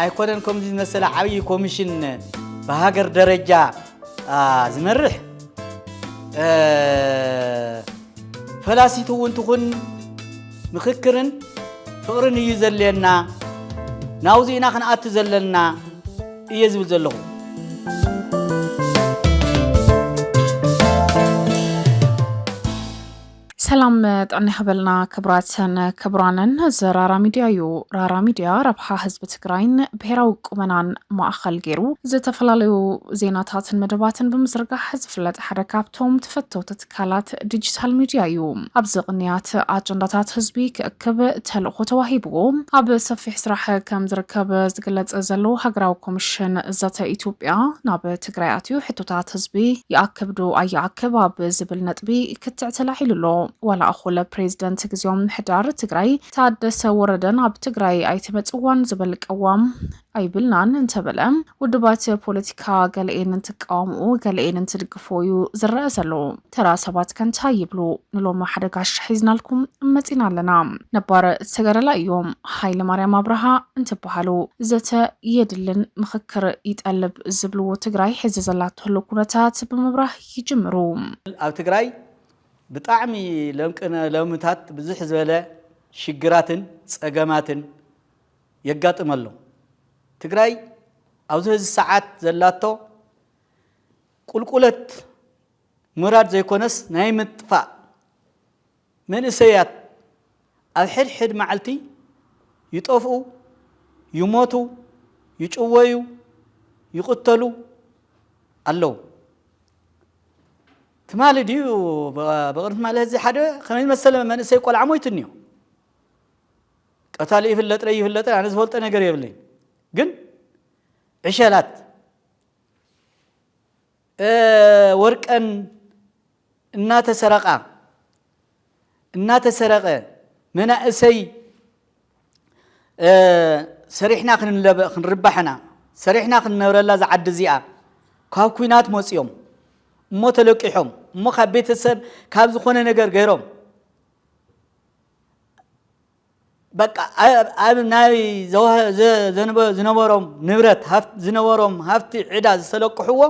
ኣይኮነን ከምዚ ዝመሰለ ዓብዪ ኮሚሽን ብሃገር ደረጃ ዝመርሕ ፈላሲት እውን ትኹን ምኽክርን ፍቕርን እዩ ዘድልየና ናብዚ ኢና ክንኣቱ ዘለና እየ ዝብል ዘለኹ ሰላም ጥዕና ይኸበልና ክብራትን ክብራንን ዘራራ ሚድያ እዩ ራራ ሚድያ ረብሓ ህዝቢ ትግራይን ብሄራዊ ቁመናን ማእኸል ገይሩ ዝተፈላለዩ ዜናታትን መደባትን ብምዝርጋሕ ዝፍለጥ ሓደ ካብቶም ተፈተውቲ ትካላት ዲጂታል ሚድያ እዩ። ኣብዚ ቅንያት ኣጀንዳታት ህዝቢ ክእክብ ተልእኾ ተዋሂብዎ ኣብ ሰፊሕ ስራሕ ከም ዝርከብ ዝግለፅ ዘሎ ሃገራዊ ኮሚሽን ዘተ ኢትዮጵያ ናብ ትግራይ ኣትዩ ሕቶታት ህዝቢ ይኣክብ ዶ ኣይኣክብ ኣብ ዝብል ነጥቢ ክትዕ ተላዒሉ ኣሎ። ዋላ እኹል ፕሬዝደንት ግዜያዊ ምምሕዳር ትግራይ ታደሰ ወረደን ኣብ ትግራይ ኣይትመፅዋን ዝብል ቅዋም ኣይብልናን እንተበለ ውድባት ፖለቲካ ገለኤን እንትቃወምኦ ገለኤን እንትድግፎ እዩ ዝረኣ ዘሎ። ተራ ሰባት ከ እንታይ ይብሉ? ንሎሚ ሓደ ጋሻ ሒዝናልኩም መፂና ኣለና። ነባር ተጋዳላይ እዮም ሃይለማርያም ኣብርሃ እንትበሃሉ ዘተ የድልን ምኽክር ይጠልብ ዝብልዎ ትግራይ ሕዚ ዘላቶ ህልው ኩነታት ብምብራህ ይጅምሩ። ኣብ ትግራይ ብጣዕሚ ለምቅነ ሎምታት ብዝሕ ዝበለ ሽግራትን ፀገማትን የጋጥም ኣሎ። ትግራይ ኣብዚ ሀዚ ሰዓት ዘላቶ ቁልቁለት ምውራድ ዘይኮነስ ናይ ምጥፋእ መንእሰያት ኣብ ሕድ ሕድ መዓልቲ ይጠፍኡ፣ ይሞቱ፣ ይጭወዩ፣ ይቕተሉ ኣለዉ። ትማሊ ድዩ ብቕድሚ ትማሊ ሀዚ ሓደ ከመይ ዝመሰለ መንእሰይ ቆልዓ ሞይቱ እኒኦ። ቀታሊ ይፍለጥ ለይ ይፍለጥ ኣነ ዝፈልጦ ነገር የብለይ ግን ዕሸላት ወርቀን እናተሰረቃ እናተሰረቀ መናእሰይ ሰሪሕና ክንርባሕ ኢና ሰሪሕና ክንነብረላ ዝዓዲ እዚኣ ካብ ኩናት መፅኦም እሞ ተለቂሖም እሞ ካብ ቤተሰብ ካብ ዝኾነ ነገር ገይሮም በቃ ኣብ ናይ ዝነበሮም ንብረት ዝነበሮም ሃፍቲ ዕዳ ዝተለቅሕዎ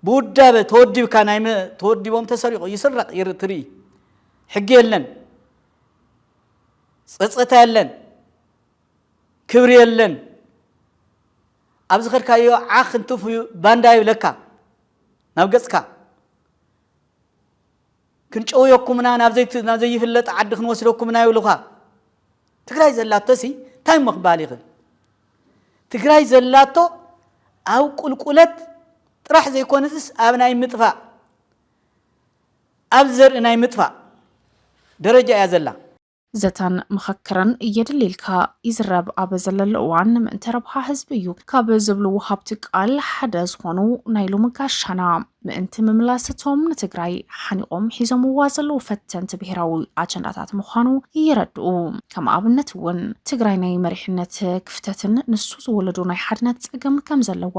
ብውዳበ ተወዲብካ ናይ ተወዲቦም ተሰሪቑ ይስረቕ ትርኢ ሕጊ የለን ፀፀታ የለን ክብሪ የለን ኣብ ዝኸድካዮ ዓኽ እንትፍ ባንዳ ይብለካ ናብ ገፅካ ክንጨውየኩም ኢና ናብ ዘይት ናብ ዘይፍለጥ ዓዲ ክንወስደኩም ኢና ይብሉኻ ትግራይ ዘላቶሲ ታይ እሞ ክበሃል ይኽእል ትግራይ ዘላቶ ኣብ ቁልቁለት ጥራሕ ዘይኮነስስ ኣብ ናይ ምጥፋእ ኣብ ዘርኢ ናይ ምጥፋእ ደረጃ እያ ዘላ ዘተን ምኽክርን የድሊልካ ይዝረብ ኣብ ዘለሉ እዋን ምእንተ ረብሓ ህዝቢ እዩ ካብ ዝብሉ ወሃብቲ ቃል ሓደ ዝኾኑ ናይ ሎሚ ጋሻና ምእንቲ ምምላስ እቶም ንትግራይ ሓኒቖም ሒዞምዋ ዘለዉ ፈተንቲ ብሄራዊ ኣጀንዳታት ምዃኑ ይረድኡ። ከም ኣብነት እውን ትግራይ ናይ መሪሕነት ክፍተትን ንሱ ዝወለዶ ናይ ሓድነት ፀገም ከም ዘለዋ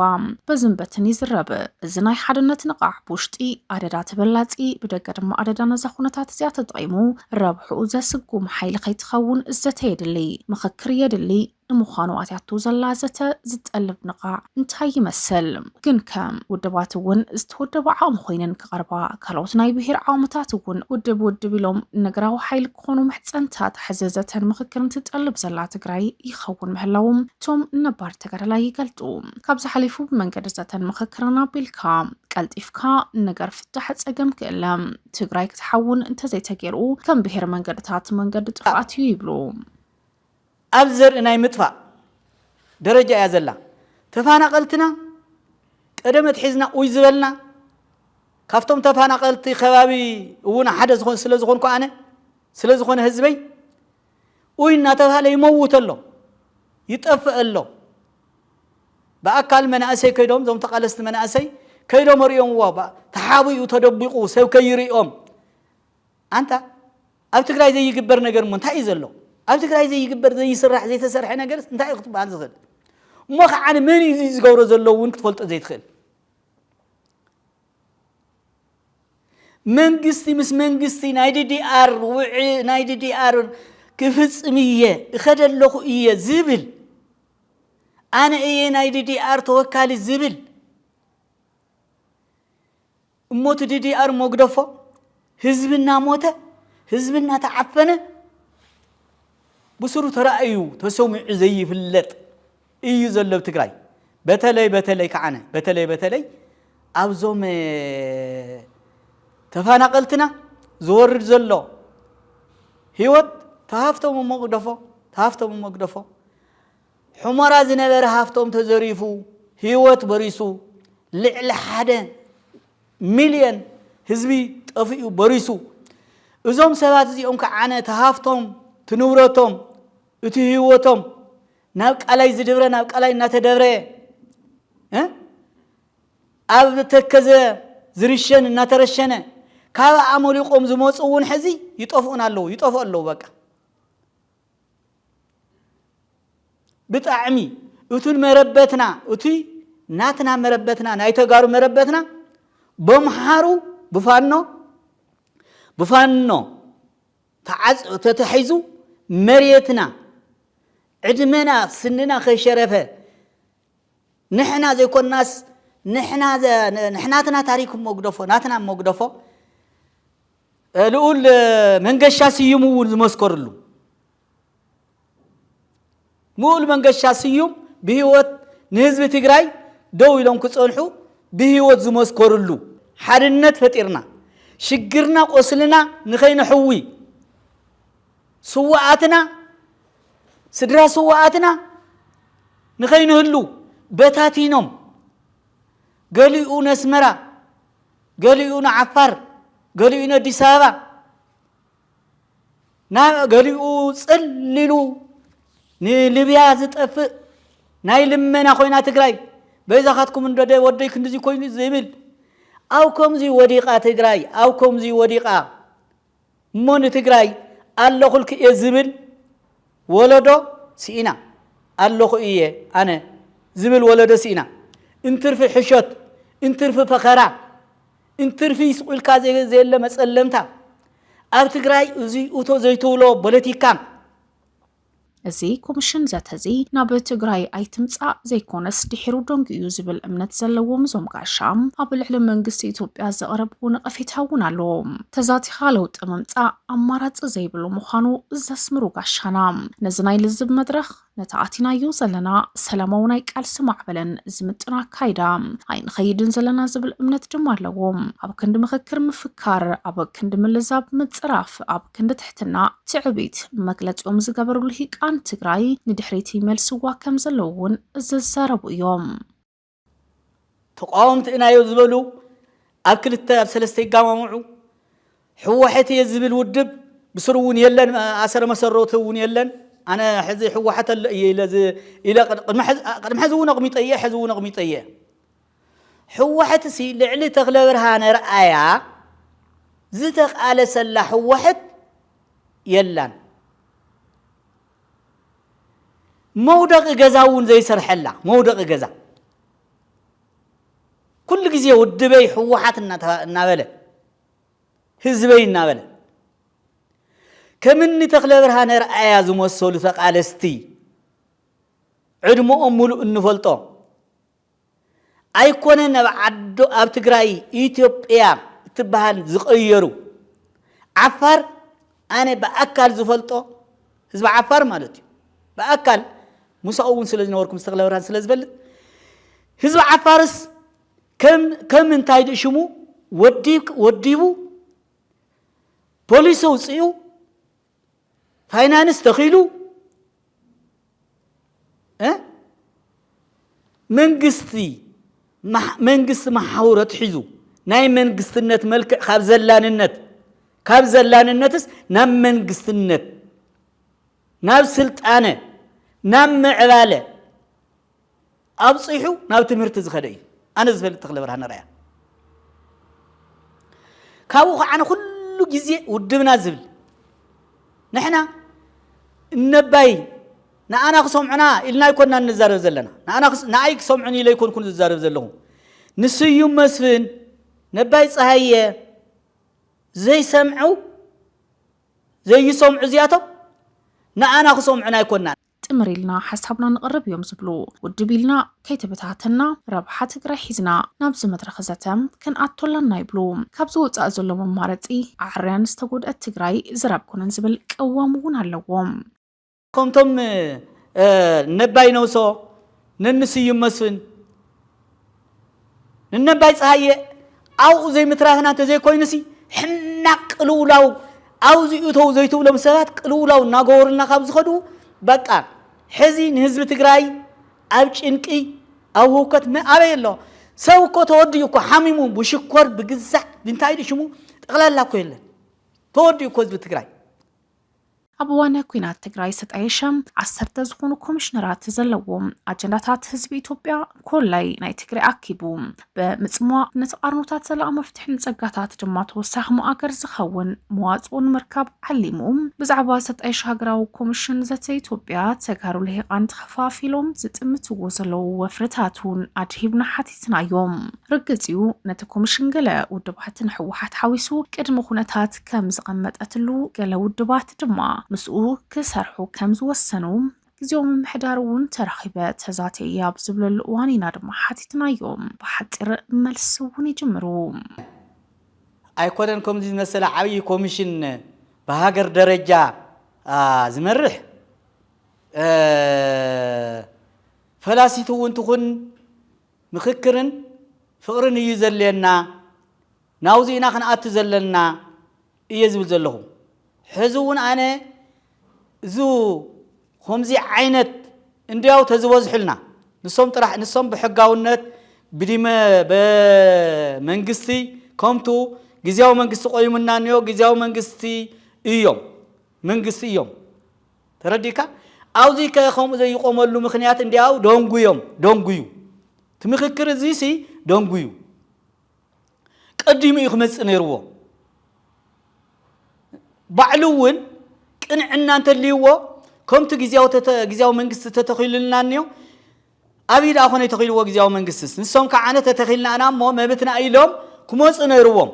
በዝን በትን ይዝረብ። እዚ ናይ ሓድነት ንቓሕ ብውሽጢ ኣደዳ ተበላፂ ብደገ ድማ ኣደዳ ነዛ ኩነታት እዚኣ ተጠቒሙ ረብሕኡ ዘስጉም ሓይሊ ከይትኸውን ዘተ የድሊ፣ ምኽክር የድሊ። ንምዃኑ ኣትያቶ ዘላ ዘተ ዝጠልብ ንቓዕ እንታይ ይመስል? ግንከ ውድባት እውን ዝተወደባ ዓቕሚ ኮይነን ክቐርባ፣ ካልኦት ናይ ብሄር ዓቕምታት እውን ውድብ ውድብ ኢሎም ነገራዊ ሓይሊ ክኾኑ ምሕፀንታታ ሕዚ ዘተን ምኽክርን ትጠልብ ዘላ ትግራይ ይኸውን ምህላዎም እቶም ነባር ተጋዳላይ ይገልፁ። ካብዚ ሓሊፉ ብመንገዲ ዘተን ምኽክርን ኣቢልካ ቀልጢፍካ ነገር ፍታሕ ፀገም ክእለ ትግራይ ክትሓውን እንተዘይተገይሩ ከም ብሄር መንገድታት መንገዲ ጥፍኣት እዩ ይብሉ። ኣብ ዘርኢ ናይ ምጥፋእ ደረጃ እያ ዘላ። ተፋናቀልትና ቀደም ኣትሒዝና ኡይ ዝበልና ካብቶም ተፋናቀልቲ ከባቢ እውን ሓደ ስለዝኾንኩ ኣነ ስለዝኾነ ህዝበይ ኡይ እናተብሃለ ይመውት ኣሎ ይጠፍእ ኣሎ ብኣካል መናእሰይ ከይዶም እዞም ተቓለስቲ መናእሰይ ከይዶም ርእዮምዎ ተሓቢኡ ተደቢቑ ሰብ ከይርእዮም ኣንታ ኣብ ትግራይ ዘይግበር ነገር እሞ እንታይ እዩ ዘሎ ኣብ ትግራይ ዘይግበር ዘይስራሕ ዘይተሰርሐ ነገር እንታይ እዩ ክትበሃል ዝኽእል እሞ ከዓ መን እዩ ዝገብሮ ዘሎ እውን ክትፈልጦ ዘይትኽእል መንግስቲ ምስ መንግስቲ ናይ ዲዲኣር ውዕ ናይ ዲዲኣር ክፍፅም እየ እኸደ ኣለኹ እየ ዝብል ኣነ እየ ናይ ዲዲኣር ተወካሊ ዝብል እሞቲ ዲዲኣር መጉደፎ ህዝቢ እናሞተ ህዝቢ እናተዓፈነ ብስሩ ተራእዩ ተሰሚዑ ዘይፍለጥ እዩ ዘሎ ኣብ ትግራይ በተለይ በተለይ ከዓነ በተለይ በተለይ ኣብዞም ተፋናቀልትና ዝወርድ ዘሎ ህይወት ተሃፍቶም እሞ ግደፎ ተሃፍቶም እሞ ግደፎ ሑመራ ዝነበረ ሃፍቶም ተዘሪፉ ህይወት በሪሱ ልዕሊ ሓደ ሚልየን ህዝቢ ጠፊኡ በሪሱ እዞም ሰባት እዚኦም ከዓነ ተሃፍቶም ትንብረቶም እቲ ህይወቶም ናብ ቃላይ ዝድብረ ናብ ቃላይ እናተደብረ ኣብ ተከዘ ዝርሸን እናተረሸነ ካብ ኣመሊቆም ዝመፁ እውን ሕዚ ይጠፍኡን ኣለዉ ይጠፍኡ ኣለዉ በቃ ብጣዕሚ እቱን መረበትና እቲ ናትና መረበትና ናይ ተጋሩ መረበትና በምሓሩ ብፋኖ ብፋኖ ተዓጽዮ ተታሒዙ መሬትና ዕድመና ስንና ከይሸረፈ ንሕና ዘይኮናስ ንሕናትና ታሪክ ሞግደፎ ናትና ሞግደፎ ልኡል መንገሻ ስዩም እውን ዝመስከርሉ ምኡል መንገሻ ስዩም ብህይወት ንህዝቢ ትግራይ ደው ኢሎም ክጸንሑ ብህይወት ዝመስከርሉ ሓድነት ፈጢርና ሽግርና ቆስልና ንኸይነሕዊ ስዋኣትና ስድራ ስዋኣትና ንኸይንህሉ በታቲኖም ገሊኡ ነስመራ ገሊኡ ንዓፋር ገሊኡ ነዲስ ኣበባ ገሊኡ ፅል ኢሉ ንልብያ ዝጠፍእ ናይ ልመና ኮይና ትግራይ በይዛኻትኩም እንደደ ወደይ ክንድዚ ኮይኑ ዝብል ኣብ ከምዚ ወዲቓ ትግራይ ኣብ ከምዚ ወዲቓ እሞ ንትግራይ ኣለኹልክ እየ ዝብል ወለዶ ስኢና ኣለኹ እየ ኣነ ዝብል ወለዶ ስኢና እንትርፊ ሕሾት እንትርፊ ፈኸራ እንትርፊ ስቁኢልካ ዘየለ መፀለምታ ኣብ ትግራይ እዙይ እቶ ዘይትብሎ ቦለቲካ። እዚ ኮምሽን ዘተዚ ናብ ትግራይ ኣይትምፃእ ዘይኮነስ ድሒሩ ደንጉዩ ዝብል እምነት ዘለዎም እዞም ጋሻ ኣብ ልዕሊ መንግስቲ ኢትዮጵያ ዘቕረብዎ ነቐፌታ እውን ኣሎ። ተዛቲኻ ለውጢ ምምፃእ ኣማራፂ ዘይብሉ ምዃኑ ዘስምሩ ጋሻና ነዚ ናይ ልዝብ መድረኽ፣ ነቲ ኣቲናዮ ዘለና ሰላማዊ ናይ ቃልሲ ማዕበለን ዝምጥን ኣካይዳ ኣይንኸይድን ዘለና ዝብል እምነት ድማ ኣለዎም። ኣብ ክንዲ ምኽክር ምፍካር፣ ኣብ ክንዲ ምልዛብ ምጽራፍ፣ ኣብ ክንዲ ትሕትና ትዕቢት መግለጺኦም ዝገበሩ ልሂቃን ትግራይ ንድሕሪት ይመልስዋ ከምዘለዉ እውን ዝዛረቡ እዮም። ተቃወምቲ እናዮ ዝበሉ ኣብ ክልተ ኣብ ሰለስተ ይጋማምዑ ሕወሐት እየ ዝብል ውድብ ብስሩ እውን የለን ኣሰረ መሰረቱ እውን የለን ኣነ ሕዚ ሕወሐት ኣሎ እየ ኢለ ኢለ ቅድሚ ሕዚ እውን ኣቕሚጠ እየ ሕዚ እውን ኣቕሚጠ እየ ሕወሐት ሲ ልዕሊ ተክለ ብርሃነ ርኣያ ዝተቃለሰላ ሕወሐት የላን መውደቒ ገዛ እውን ዘይሰርሐላ መውደቒ ገዛ ኩሉ ግዜ ውድበይ ህወሓት እናበለ ህዝበይ እናበለ ከምኒ ተክለ ብርሃነ ርኣያ ዝመሰሉ ተቃለስቲ ዕድመኦም ሙሉእ እንፈልጦ ኣይኮነን ኣብ ዓዶ ኣብ ትግራይ ኢትዮጵያ እትበሃል ዝቐየሩ ዓፋር ኣነ ብኣካል ዝፈልጦ ህዝቢ ዓፋር ማለት እዩ ብኣካል ምሳኡ እውን ስለ ዝነበርኩ ምስ ተኽለ ብርሃን ስለ ዝፈልጥ ህዝቢ ዓፋርስ ከም ከም እንታይ ድኡ ሽሙ ወዲብ ወዲቡ ፖሊስ ኣውፅኡ ፋይናንስ ተኺሉ መንግስቲ መንግስቲ መሓውር ኣትሒዙ ናይ መንግስትነት መልክዕ ካብ ዘላንነት ካብ ዘላንነትስ ናብ መንግስትነት ናብ ስልጣነ ናብ ምዕባለ ኣብጺሑ ናብ ትምህርቲ ዝኸደ እዩ ኣነ ዝፈልጥ ተክለብርሃን ኣርኣያ ካብኡ ከዓ ኣነ ኩሉ ግዜ ውድብና ዝብል ንሕና እነባይ ንኣና ክሰምዑና ኢልና ኣይኮንና እንዛረብ ዘለና ንኣና ክስ- ንኣይ ክሰምዑን ኢለ ኣይኮንኩን ዝዛረብ ዘለኹ ንስዩም መስፍን ነባይ ፀሃየ ዘይሰምዑ ዘይሰምዑ እዚኣቶም ንኣና ክሰምዑና ኣይኮንና ጥምር ኢልና ሓሳብና ንቕርብ እዮም ዝብሉ። ውድብ ኢልና ከይተበታተና ረብሓ ትግራይ ሒዝና ናብዚ መድረኽ ዘተ ክንኣቱ ኣላና ይብሉ። ካብዚ ወፃኢ ዘሎ መማረፂ ዓርያን ዝተጎድኣት ትግራይ ዘር ኣኮነን ዝብል ቅዋም እውን ኣለዎም። ከምቶም ነባይ ነውሶ፣ ነኒ ስዩም መስፍን፣ ንነባይ ፀሃየ ኣብኡ ዘይምትራፍና እንተዘይኮይኑሲ ሕማቅ ቅልውላው ኣብዚ እተው ዘይትብሎም ሰባት ቅልውላው እናገበሩልና ካብ ዝኸዱ በቃ ሕዚ ንህዝቢ ትግራይ ኣብ ጭንቂ ኣብ ህውከት መ- ኣበይ ኣሎ ሰብ እኮ ተወዲኡ እኮ ሓሚሙ ብሽኮር ብግዛዕ ብንታይ ድዩ ሽሙ ጠቕላላ እኮ የለን ተወዲኡ እኮ ህዝቢ ትግራይ ኣብ እዋነ ኩናት ትግራይ ዝተጣየሸ ዓሰርተ ዝኾኑ ኮሚሽነራት ዘለዎ ኣጀንዳታት ህዝቢ ኢትዮጵያ ኮላይ ናይ ትግራይ ኣኪቡ ብምፅሟቕ ንተቓርኖታት ዘላቕ መፍትሒ ንፀጋታት ድማ ተወሳኺ መኣገር ዝኸውን መዋፅኦ ንምርካብ ዓሊሙ ብዛዕባ ዝተጣየሸ ሃገራዊ ኮሚሽን ዘተ ኢትዮጵያ ተጋሩ ልሂቓን ተኸፋፊሎም ዝጥምትዎ ዘለዉ ወፍርታት እውን ኣድሂብና ሓቲ ኣመልኪትና እዮም። ርግጽ እዩ ነቲ ኮሚሽን ገለ ውድባት ንሕወሓት ሓዊሱ ቅድሚ ኩነታት ከም ዝቐመጠትሉ ገለ ውድባት ድማ ምስኡ ክሰርሑ ከም ዝወሰኑ ግዜዊ ምምሕዳር እውን ተራኺበ ተዛቴ እየ ኣብ ዝብለሉ እዋን ኢና ድማ ሓቲትናዮም። ብሓጺር መልሲ እውን ይጅምሩ። ኣይኮነን ከምዚ ዝመሰለ ዓብዪ ኮሚሽን ብሃገር ደረጃ ዝመርሕ። ፈላሲት እውን ትኹን ምኽክርን ፍቕርን እዩ ዘድልየና፣ ናብዙይ ኢና ክንኣቱ ዘለና እየ ዝብል ዘለኹ። ሕዚ እውን ኣነ እዙ ኹምዙ ዓይነት እንድያው ተዝበዝሑልና ንሶም ጥራሕ ንሶም ብሕጋውነት ብዲመ በመንግስቲ ከምቱ ግዝያዊ መንግስቲ ቆይሙና እንዮ ግዝያዊ መንግስቲ እዮም። መንግስቲ እዮም ተረዲካ ኣውዚ ከ ከምኡ ዘይቆመሉ ምክንያት እንዲያው ደንጉዮም ደንጉዩ እቲ ምክክር እዚ ሲ ደንጉዩ ቀዲሙ እዩ ክመፅእ ነይርዎ ባዕሉ እውን ቅንዕና እንተልይዎ ከምቲ ግዜያዊ መንግስቲ ተተኺሉልና እኒዮ ኣብይ ደኣ ኮነ ተኺልዎ ግዜያዊ መንግስትስ ንሶም ከዓነ ተተኺልና ኢና እሞ መብትና ኢሎም ክመፁ ነይርዎም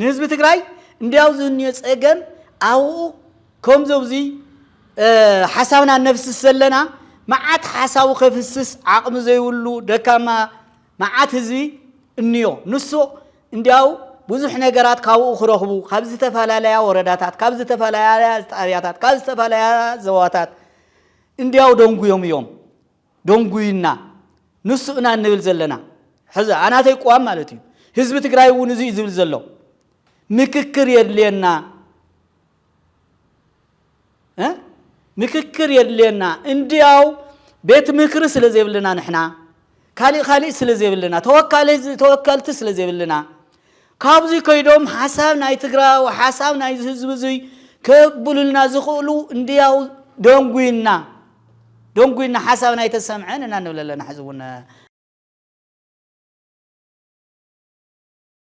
ንህዝቢ ትግራይ እንዲያው ዝህንዮ ጸገም ኣብኡ ከምዞ ብዙይ ሓሳብና ነፍስስ ዘለና መዓት ሓሳቡ ከፍስስ ዓቕሚ ዘይብሉ ደካማ መዓት ህዝቢ እንዮ ንሱ እንዲያው ብዙሕ ነገራት ካብኡ ክረኽቡ ካብ ዝተፈላለያ ወረዳታት ካብ ዝተፈላለያ ጣብያታት ካብ ዝተፈላለያ ዘዋታት እንዲያው ደንጉዮም እዮም ደንጉዩና ንሱ እና እንብል ዘለና ሕዚ ኣናተይ ቅዋም ማለት እዩ ህዝቢ ትግራይ እውን እዙ እዩ ዝብል ዘሎ ምክክር የድልየና ምክክር የድልየና እንድያው ቤት ምክሪ ስለ ዘይብልና ንሕና ካሊእ ካሊእ ስለ ዘይብልና ተወካልቲ ስለ ዘይብልና ካብዚ ከይዶም ሓሳብ ናይ ትግራዊ ሓሳብ ናይዚ ህዝቢ እዙይ ከብሉልና ዝኽእሉ እንድያው ደንጉይና ደንጉይና ሓሳብና ኣይተሰምዐን እና ንብል ኣለና ሕዚ እውን